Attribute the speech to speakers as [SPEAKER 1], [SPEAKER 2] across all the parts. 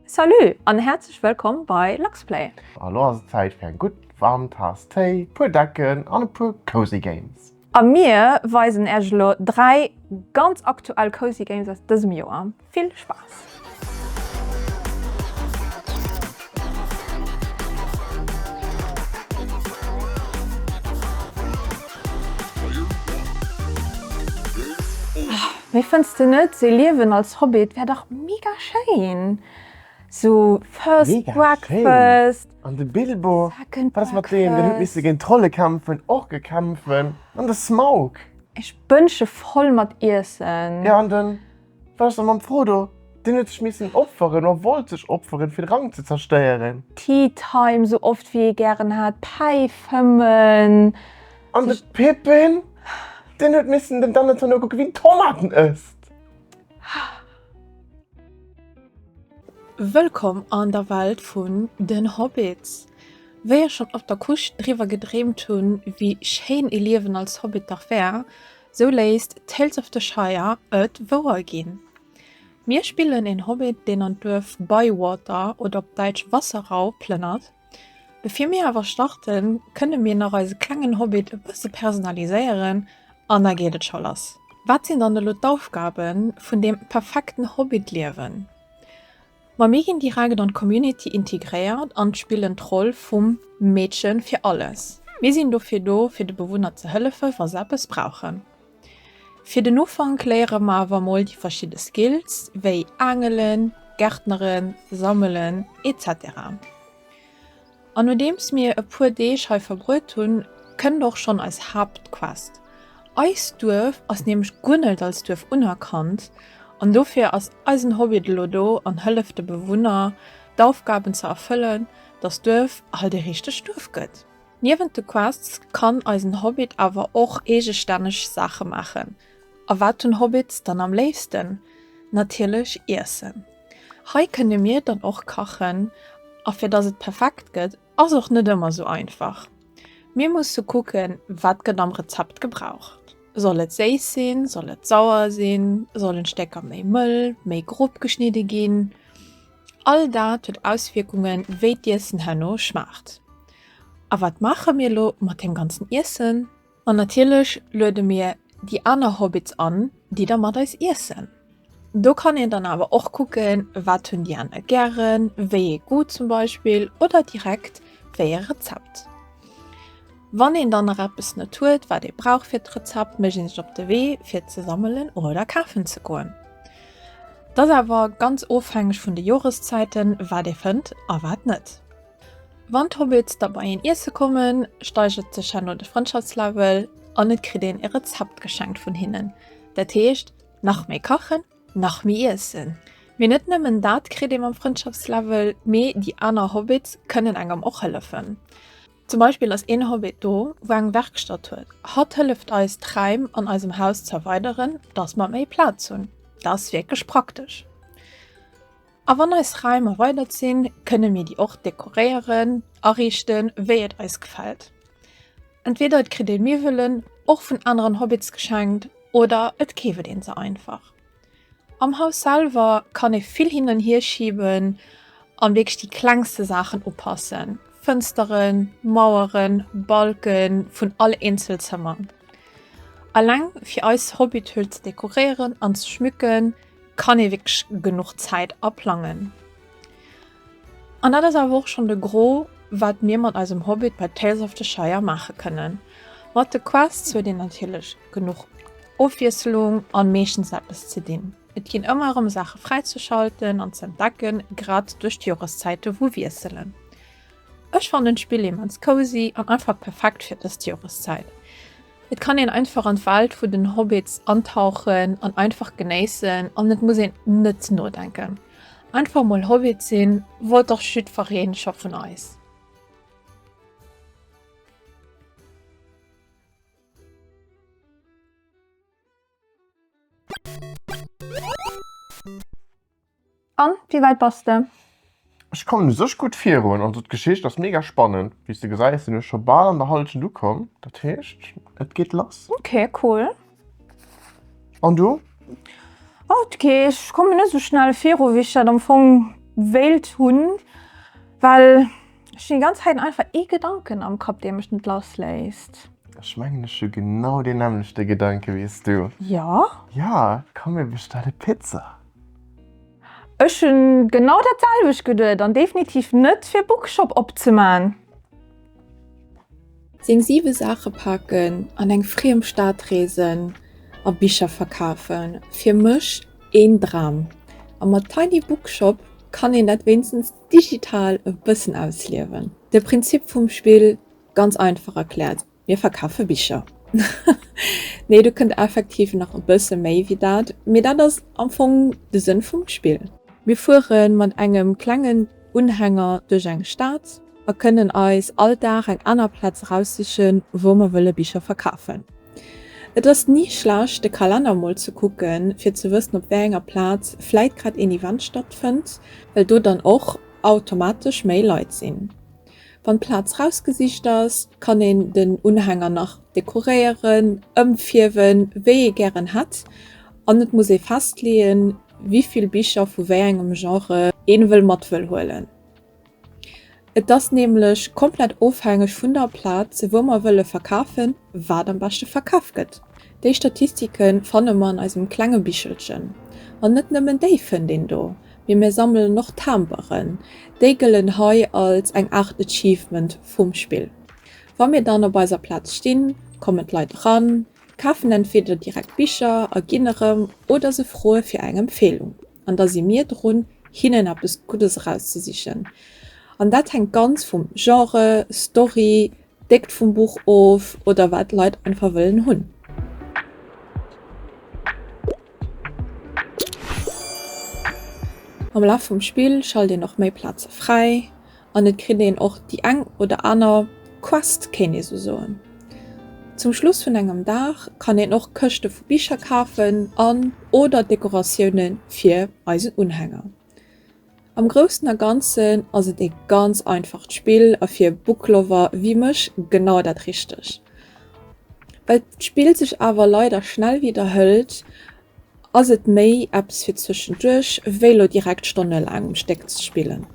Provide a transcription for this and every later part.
[SPEAKER 1] Salut an häerzlech wëllkomm bei Luxplay! Elo ass et Zäit
[SPEAKER 2] fir eng gutt waarm Taass Téi, puer Decken an e puer Cozy Games. A mir
[SPEAKER 1] weisen Äech elo 3 ganz aktuell Cozy Games aus dësem Joer. Vill Spaass! Mee fënns de net se liewen als Hobbit wär dach mega schéin? Sou first breakfast, second
[SPEAKER 2] breakfast.
[SPEAKER 1] Den huet misse
[SPEAKER 2] géint Trolle kämpfen, Orke kämpfen an de Smaug. Ech bënsche
[SPEAKER 1] voll mat Iessen. Ja an den
[SPEAKER 2] Frodo, mam Frodo, den huet sech missen opferen oder wollt sech opferen fir de Rank ze zerstéieren. Tea time
[SPEAKER 1] sou oft wéi ee gären hat, päifen. An de
[SPEAKER 2] Pippin, deen huet missen dem Donneton nokucke wéi en Tomaten ësst.
[SPEAKER 3] Wëllkomm an der Welt vun den Hobbits! Wéi ech schon op der Couche driwwer gedreemt hun wéi schéin ee Liewen als Hobbit dach wär, sou léisst Tales of the Shire et wouer gin. Mir spillen een Hobbit deen an d'Duerf Bywater, oder op Däitsch Wasserau, plënnert. Bevir mir awer starten, kënne mir nach eise klengen Hobbit e bësse personaliséieren an da geet et scho lass. Wat sinn dann elo d'Aufgabe vun deem perfekten Hobbit-Liewen? Ma mir ginn direkt an d'Community integréiert an spillen d'Roll vum Meedchen fir alles. Mir sinn dofir do, fir de Bewunner ze hëllefen, wa se eppes brauchen. Fir den Ufank léiere mer awer mol déi verschidde Skills wéi Aangelen, Gärtneren, Sammelen, etc. An nodeems mir e puer Deeg hei verbruet hunn, kënnt och schonn eis Haaptquest. Eist Duerf ass nämlech guer net als Duerf unerkannt an dofir ass eisen Hobbit elo do an hëlleft de Bewunner d'Aufgaben ze erfëllen, dass d'Duerf halt e richtegt Duerf gëtt. Niewent de Quests kann eisen Hobbit awer och eegestänneg Saache maachen. A wat hunn Hobbits dann am léifsten? Natierlech Iessen. Hei kënne mir dann och kachen, a fir dass et perfekt gëtt ass och net ëmmer sou einfach. Mir musse kucken, wat gëtt am Rezept gebraucht. Soll et séiss sinn, soll et sauer sinn, sollen d'Stécker méi mëll, méi grob geschnidde ginn? All dat huet Auswierkungen wéi d'Iessen herno schmaacht. A wat maache mir elo mat deem ganzen Iessen? An natierlech luede mir déi aner Hobbits an, déi da mat eis iessen. Do kann een dann awer och kucken, wat hunn déi aner gären, wéi ee Goût zum Beispill oder direkt wéi ee Rezept. Wann een dann nach eppes net huet, wat ee brauch fir d'Rezept, mécht een sech op de Wee fir ze sammelen oder kafen ze goen. Et ass awer ganz ofhängeg vun de Joreszäiten, wat ee fënnt a wat net. Wann d'Hobbits da bei een iesse kommen, steigert sech herno de Frëndschaftslevel an et kritt een e Rezept geschenkt vun hinnen. Dat heescht, nach méi kachen, nach méi iessen. Mee net nëmmen dat kritt ee mam Frëndschaftslevel, mee déi aner Hobbits kënnen engem och hëllefen. Zum Beispill ass een Hobbit do, wou eng Werkstatt huet. Hatt hëlleft eis d'Räim an eisem Haus z'erweideren, dass mer méi Plaz hunn. Dat ass wierklech praktesch. A wann eis Räim erweidert sinn, kënne mir déi och dekoréieren, ariichten, wéi et eis gefält. Entweder et kritt ee Miwwelen och vun aneren Hobbits geschenkt oder et keeft een se einfach. Am Haus selwer kann ee vill hin an hier schiben an wierklech déi klengste Saachen upassen, Fënsteren, Maueren, Balken vun all Eenzelzëmmer. Alleng fir eis Hobbithöhl ze dekorieren an ze schmücken kann ee wierklech genuch Zäit a plangen. An dat ass awer och schonn de Gros, wat mir mat eisem Hobbit bei Tales of the Shire maache kënnen. Mat de Quests huet een natierlech genuch Ofwiesselung an meeschtens eppes ze dinn. Et ginn ëmmer erëm Saache fräizeschalten an z'entdecken, grad duerch d'Joreszäite wou wiesselen. Ech fannen d'Spill immens cozy an einfach perfekt fir dës Joreszäit. Et kann een einfach an d'Welt vun den Hobbits antauchen an einfach genéissen an et muss een net nodenken. Einfach mol Hobbit sinn, wollt dach jiddfereen scho vun eis.
[SPEAKER 1] An wéi wäit bass de? Ech kommen u
[SPEAKER 2] sech gutt virun. Also d'Geschicht ass mega spannend. Wéis de gesäis sinn ech scho bal an der Halschent ukomm. Dat heescht et geet lass. Ok cool.
[SPEAKER 1] An du? Ok, ech kommen net esou schnell
[SPEAKER 2] viru
[SPEAKER 1] wéi ech dat am Fong wéilt hunn, well ech hunn déi ganz Zäit einfach ee Gedanken am Kapp dee mech net lass léisst. Ech mengen ech
[SPEAKER 2] hu genau deen nämmlechte Gedanke wéis du. Jo? Jo,
[SPEAKER 1] komm
[SPEAKER 2] mir bestelle Pizza.
[SPEAKER 1] Ech hun genau dat selwecht geduet an definitiv net fir Bookshop opzemaan.
[SPEAKER 3] Seng 7 Saache paken an eng friem Stad reesen a Bicher verkafen, fir mech een Dram. A mat Tiny Bookshop kann een dat wéinstens digital e bëssen ausliewen. De Prinzip vum Spill ganz einfach erklärt. Mir verkafe Bicher. Nee, do kënnt effektiv nach e bësse méi wéi dat, mee dat ass am Fong de Sënn vum Spill. Mir fuere mat engem klengen Unhänger duerch eng Stad a kënnen eis all Dag eng aner Plaz eraussichen, wou mer wëlle Bicher verkafen. Et ass ni schlecht, de Kalenner emol ze kucken, fir ze wëssen, op wéi enger Plaz vläit grad een Event stattfënnt, well do dann och automatesch méi Leit sinn. Wann d'Plaz rausgesicht ass, kann een den Unhänger nach dekoréieren, ëmfierwen, wéi ee gären hätt an et muss ee festleeën, wivill Bicher vu wéi engem Genre ee wëll mat wëll huelen. Et ass nämlech komplett ofhängeg vun der Plaz, wou mer wëlle verkafen, wat am beschte verkaf gëtt. Déi Statistike fanne mer an eisem klenge Bichelchen. An net nëmmen déi fënnt een do. mee mir sammelen och Timberen, déi gëllen hei als eng Aart Achievement vum Spill. Wa mir dann op eiser Plaz stinn, kommen d'Leit eran, kafen entweder direkt Bicher a ginn erëm oder se froe fir eng Empfeelung an da si mir drun, hinnen eppes Guddes erauszesichen. An dat hänkt ganz vum Genre, Story, Déckt vum Buch of oder wat d'Leit einfach wëllen hunn. Am Laf vum Spill schalt een och méi Plaze fräi an et kritt een och déi eng oder aner Quest, kéint ee sou soen. Zum Schluss vun engem Dag kann een och Këschte vu Bicher kafen an oder Dekoratioune fir eisen Unhänger. Am groussen a ganzen ass et ee ganz einfacht Spill a fir Booklover wéi mech genau dat richteg. Well d'Spill sech awer leider schnell widderhëlt, ass et méi eppes fir zwëschenduerch wéi lo direkt stonnelaang um Stéck ze spillen.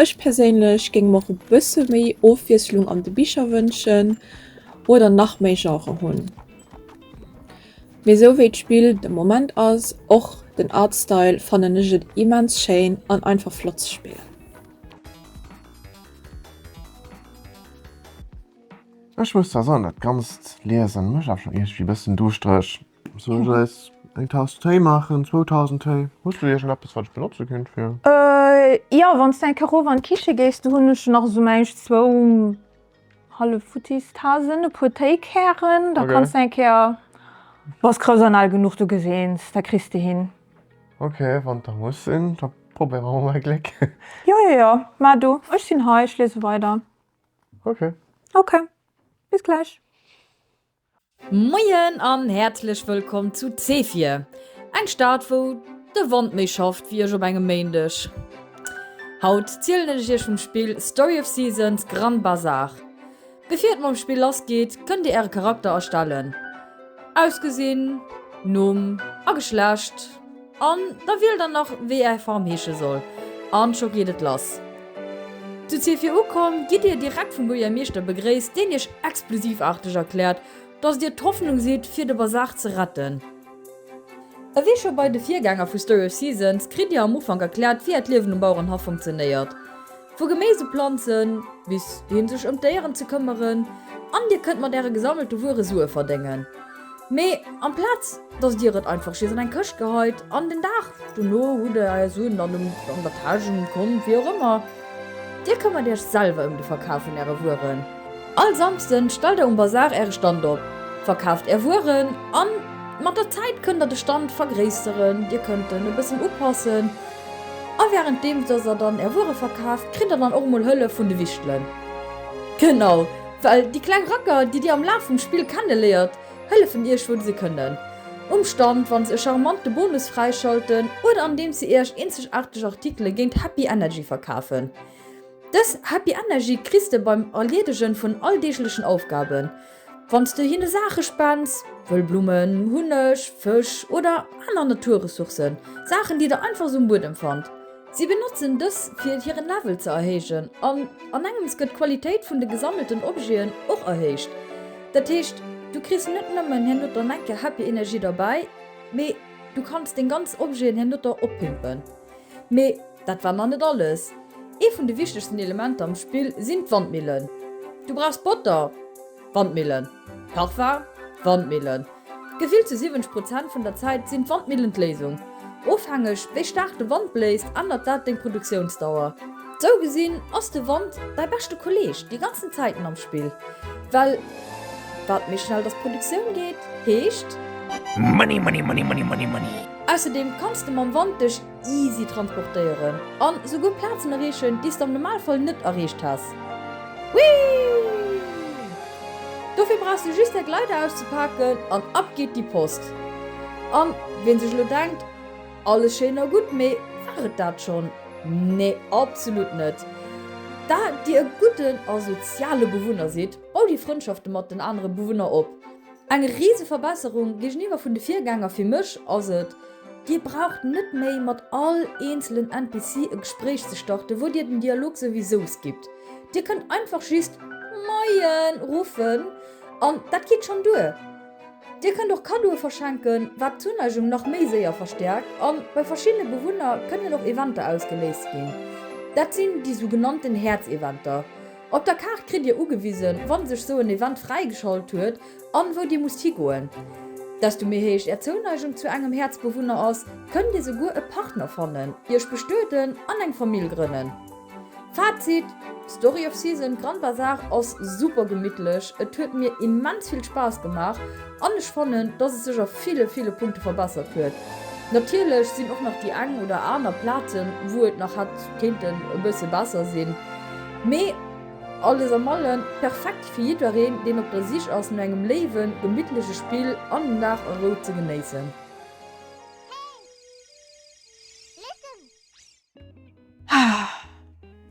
[SPEAKER 3] Ech perséinlech géing mer och e bësse méi Ofwiesslung an de Bicher wënschen oder nach méi Genren hunn. Mee esou wéi d'Spill de Moment ass, och den Artstyle, fannen ech et immens schéin an einfach flott ze spillen.
[SPEAKER 2] Ech muss zwar soen, dat ganzt Liesen mécht awer schon iergdwi bëssen duuschtreg. Soll ech eis eng Taass Téi maachen? Zwou Taassen Téi? Hues du iergendeppes wat ech benotze kinnt fir. Jo,
[SPEAKER 1] wanns de eng Kéier erof an d'Kiche gees, do hun ech nach esou mäinsch zwou Hallefuttis Tasen, e puer Téikären, da kanns de eng Kéier, bass grouss an al genuch, du geseens, da kriss de hin. Ok, wann
[SPEAKER 2] et da muss sinn, da probéiere mer mol Gléck. Jo, jo, jo,
[SPEAKER 1] mä du, ech sinn hei, ech liese weider. Ok.
[SPEAKER 2] Ok,
[SPEAKER 1] bis gläich. Moien
[SPEAKER 4] an häerzlech wëllkomm zu Zefir, eng Stad wou de Wand méi schafft wéi ech op engem Méindeg. Haut zielen ech iech vum Spill Story of Seasons Grand Bazar. Bevir et mam Spill lass geet, kënnt dir äre Charakter erstellen, Ausgesinn, Numm a Geschlecht. An da wiel der nach wéi är Form heesche soll an scho geet et lass. Zu Zefir ukomm gitt dir direkt vum Buergermeeschter begréisst deen iech explosivarteg erkläert dass dir d'Hoffnung sidd fir de Bazar ze retten. Ewéi scho bei de Virgänger vu Story of Seasons kritt dir am Ufank erkläert wéi äert Liewen um Bauerenhaff funktionéiert. Vu Geméis u Planzen, bis hin sech ëm d'Déieren ze këmmeren an dir kënnt mat äre gesammelte Wuere Sue verdéngen. Mee amplaz dass dir et einfach jiddest an eng Këscht geheit an den Dag dono hutt der är Suen dann an der Täsch, um Kont, wéi och ëmmer. Dir këmmert iech selwer ëm de Verkaf vun äre Wueren. All Samsden stellt der um Bazar äre Stand op, verkaaft är Wueren an mat der Zäit kënnt der de Stand vergréisseren, dir kënnt en e bëssen upassen. A währenddeems dass der dann är Wuere verkaaft, kritt der dann och emol Hëllef vun de Wichtelen. Genau, well déi kleng Racker, déi dir am Laf vum Spill kenneléiert, hëllefen iech wou se kënnen. Um Stand, wann se e charmante Bonus fräischalten oder andeems se iech eenzegaarteg Artikele géint Happy Energy verkafen. Dës Happy Energy kriss de beim Erliedegen vun alldeeglechen Aufgaben. Wann s de hinne Saache spends, wëll Blummen, Hunneg, Fësch oder aner Naturressourcen, Saachen déi der einfach sou um Buedem fannt. Si benotzen dës fir hiren Level ze erhéijen an an engems gëtt d'Qualitéit vun de gesammelten Objeten och erhéicht. Dat heescht du kriss net nëmmen hernotter eng Kéier Happy Energie derbäi, mee du kanns deng ganz Objeten hernotter oppimpen. Mee dat war nach net alles, Ee vun de wichtegsten Elementer am Spill sinn d'Wandmillen. Du brauchs Botter, Wandmillen, Parfum, Wandmillen. Gefillt zu 70 Prozent vun der Zäit sinn d'Wandmillen d'Léisung. Ofhängeg wéi staark de Wand bléist, ännert dat deng Produktiounsdauer. Sou gesinn ass de Wand däi beschte Kolleeg déi ganzen Zäiten am Spill, well Wat méi schnell datt Produktioun geet, heescht. Money,
[SPEAKER 5] money, money, money, money, money. Ausserdeem kanns de
[SPEAKER 4] mam Wand dech easy transportéieren an esouguer Plazen erreechen, déi's de am Normalfall net erreecht häss. Whee! Dofir brauchs de just däi Gleiter auszepaken an ab geet déi Post. An wien sech elo denkt, alles schéin a gutt, mee war et dat schonn? Nee, absolut net. Da dir e gudden a soziale Bewunner sidd, Bau déi Frëndschafte mat den anere Bewunner op. Eng rise Verbesserung géigeniwwer vun de Virgänger fir mech ass et, Dir braucht net méi mat all eenzelen NPC e Gespréich ze starten, wou Dir den Dialog souwisou skippt. Dir kënnt einfach just Moien ruffen an dat geet schonn duer. Dir kënnt och Kaddoe verschenken, wat d'Zuneigung nach méi séier verstäerkt, a bei verschiddene Bewunner kënnen och Eventer ausgeléist ginn. Dat sinn déi sougenannten Häerzeventer. Op der Kaart kritt Dir ugewisen, wann sech sou en Event fräigeschalt huet an wou Dir musst higoen. Desto méi héich Är Zouneigung zu engem Häerzbewunner ass, kënnt Dir souguer e Partner fannen, Iech bestueden an eng Famill grënnen. Fazit, Story of Season Grand Bazar ass super gemittlech, et huet mir immens vill Spaass gemaach an ech fannen, dass et sech a ville, ville Punkte verbessert huet. Natierlech sinn och nach déi eng oder aner Plazen, wou et nach hätt kéinten e bësse besser sinn. Mee alles am allen perfekt fir jiddereen, deen op der Sich ass no engem léiwen, gemittleche Spill an den Dag a Rou ze genéissen.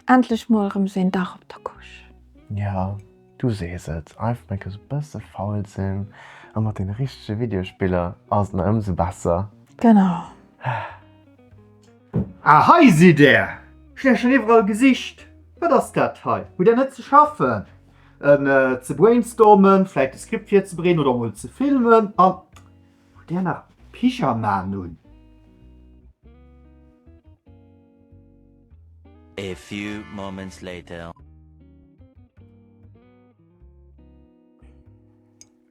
[SPEAKER 1] Endlech mol rem sou een Dag op der Couche! Jo,
[SPEAKER 2] du sees et, I've make e bësse faul sinn a mat den richtege Videospiller ass et nach ëmsou besser. Genau.
[SPEAKER 5] Ah, hei sidd der! Hunn iech schonn iwwerall gesicht. Wat ass dat hei? Hutt der net ze schaffen? Ze brainstormen, vläit e Skript virzebereeden oder emol ze filmen? An hutt der nach Pyjamaen un?
[SPEAKER 6] A few moments later.